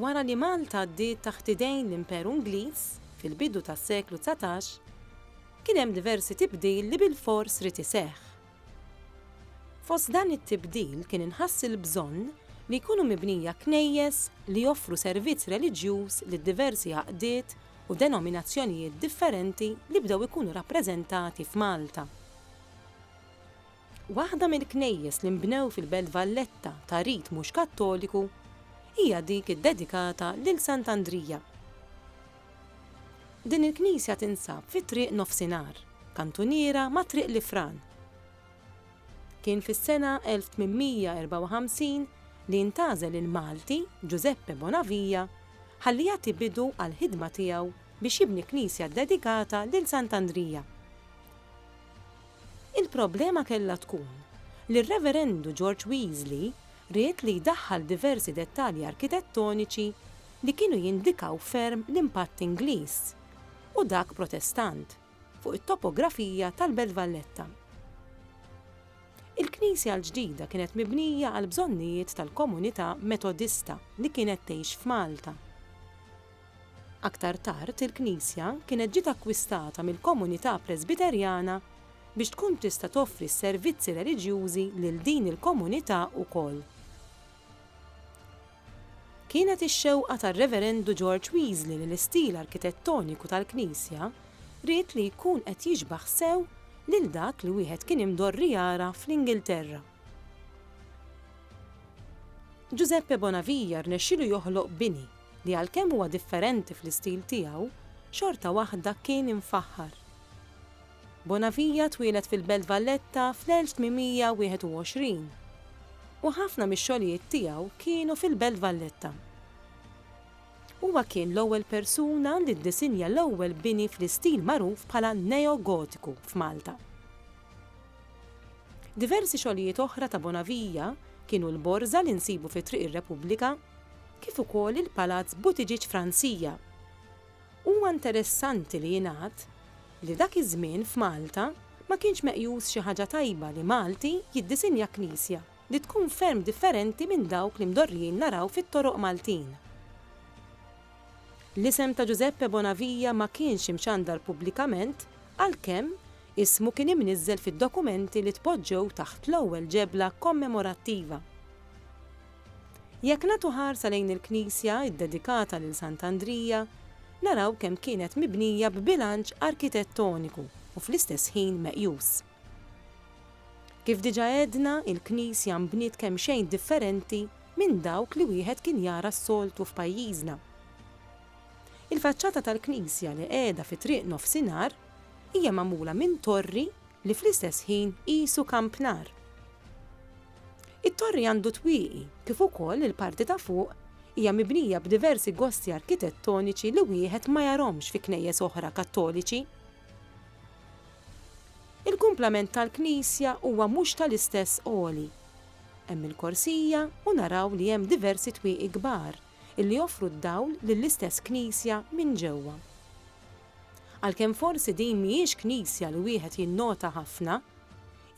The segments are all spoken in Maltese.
Wara li Malta għaddiet taħt idejn l-Imperu Ingliż fil-bidu tas-seklu dsatax, kien hemm diversi tibdil li bilfors ried iseħħ. Fost dan it-tibdil kien inħass il-bżonn li jkunu mibnija knejjes li joffru servizz reliġjuż lid-diversi għaqdiet u denominazzjonijiet differenti li bdew ikunu rappreżentati f'Malta. Waħda mill-knejjes li nbnew fil-Belt Valletta ta' rit mhux Kattoliku hija dik iddedikata lil Sant' Andrija. Din il-knisja tinsab fi Triq Nofsinhar, kantuniera ma' Triq l-Ifran. Kien fis-sena 1854 li ntgħażel il-Malti Ġużeppe Bonavija ħalli jagħti bidu għall-ħidma tiegħu biex jibni knisja ddedikata lil Sant' Andrija. Il-problema kellha tkun li r-Reverendu George Weasley ried li jdaħħal diversi dettalji arkitettoniċi li kienu jindikaw ferm l-impatt Ingliż, u dak Protestant, fuq it-topografija tal-Belt Valletta. Il-knisja l-ġdida kienet mibnija għall-bżonnijiet tal-komunità Metodista li kienet tgħix f'Malta. Aktar tard il-knisja kienet ġiet akkwistata mill-komunità Presbiterjana biex tkun tista' toffri s-servizzi reliġjużi lil din il-komunità ukoll. Kienet ix-xewqa tar-Reverendu George Weasley li l-istil arkitettoniku tal-knisja ried li jkun qed jixbah sew lil dak li wieħed kien imdorri jara fl-Ingilterra. Giuseppe Bonavia rnexxielu joħloq bini li għalkemm huwa differenti fl-istil tiegħu, xorta waħda kien imfaħħar. Bonavia twieled fil-Belt Valletta fl-1821, u ħafna mix-xogħlijiet tiegħu kienu fil-Belt Valletta. Huwa kien l-ewwel persuna li ddisinja l-ewwel bini fl-istil magħruf bħala Neo-Gotiku f'Malta. Diversi xogħlijiet oħra ta' Bonavia kienu l-borża li nsibu fi Triq ir-Repubblika kif ukoll il-Palazz Buttigieg f'Ransija. Huwa interessanti li jingħad li dak iż-żmien f'Malta ma kienx meqjus xi ħaġa tajba li Malti jiddisinja knisja li tkun ferm differenti minn dawk li mdorrijin naraw fit-toroq Maltin. L-isem ta' Ġużeppe Bonavia ma kienx imxandar pubblikament għalkemm ismu kien imniżżel fid-dokumenti li tpoġġew taħt l-ewwel ġebla kommemorattiva. Jekk nagħtu ħarsa lejn il-knisja ddedikata lil Sant'Andrija, naraw kemm kienet mibnija b'bilanċ arkitettoniku u fl-istess ħin meqjus. Kif diġà għedna, il-Knisja nbniet kemxejn differenti minn dawk li wieħed kien jara s-soltu f'pajjiżna. Il-faċċata tal-Knisja li qiegħda fi Triq Nofsinhar hija magħmula minn torri li fl-istess ħin qisu kampnar. It-torri għandu twieqi kif ukoll il-parti ta' fuq hija mibnija b'diversi gosti arkitettoniċi li wieħed ma jarahomx fi knejjes oħra Kattoliċi. Il-kumplament tal-knisja huwa mhux tal-istess għoli. Hemm il-korsija u naraw li hemm diversi twieqi kbar illi joffru d-dawl lill-istess knisja minn ġewwa. Għalkemm forsi din mhijiex knisja li wieħed jinnota ħafna,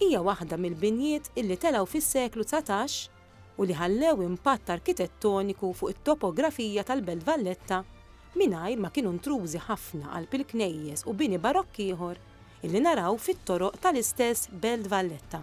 hija waħda mill-binjiet illi telgħu fis-seklu dsatax, u li ħallew impatt arkitettoniku fuq it-topografija tal-Belt Valletta mingħajr ma kienu ntrużi ħafna qalb il-knejjes u bini Barokk ieħor illi naraw fit-toroq tal-istess Belt Valletta.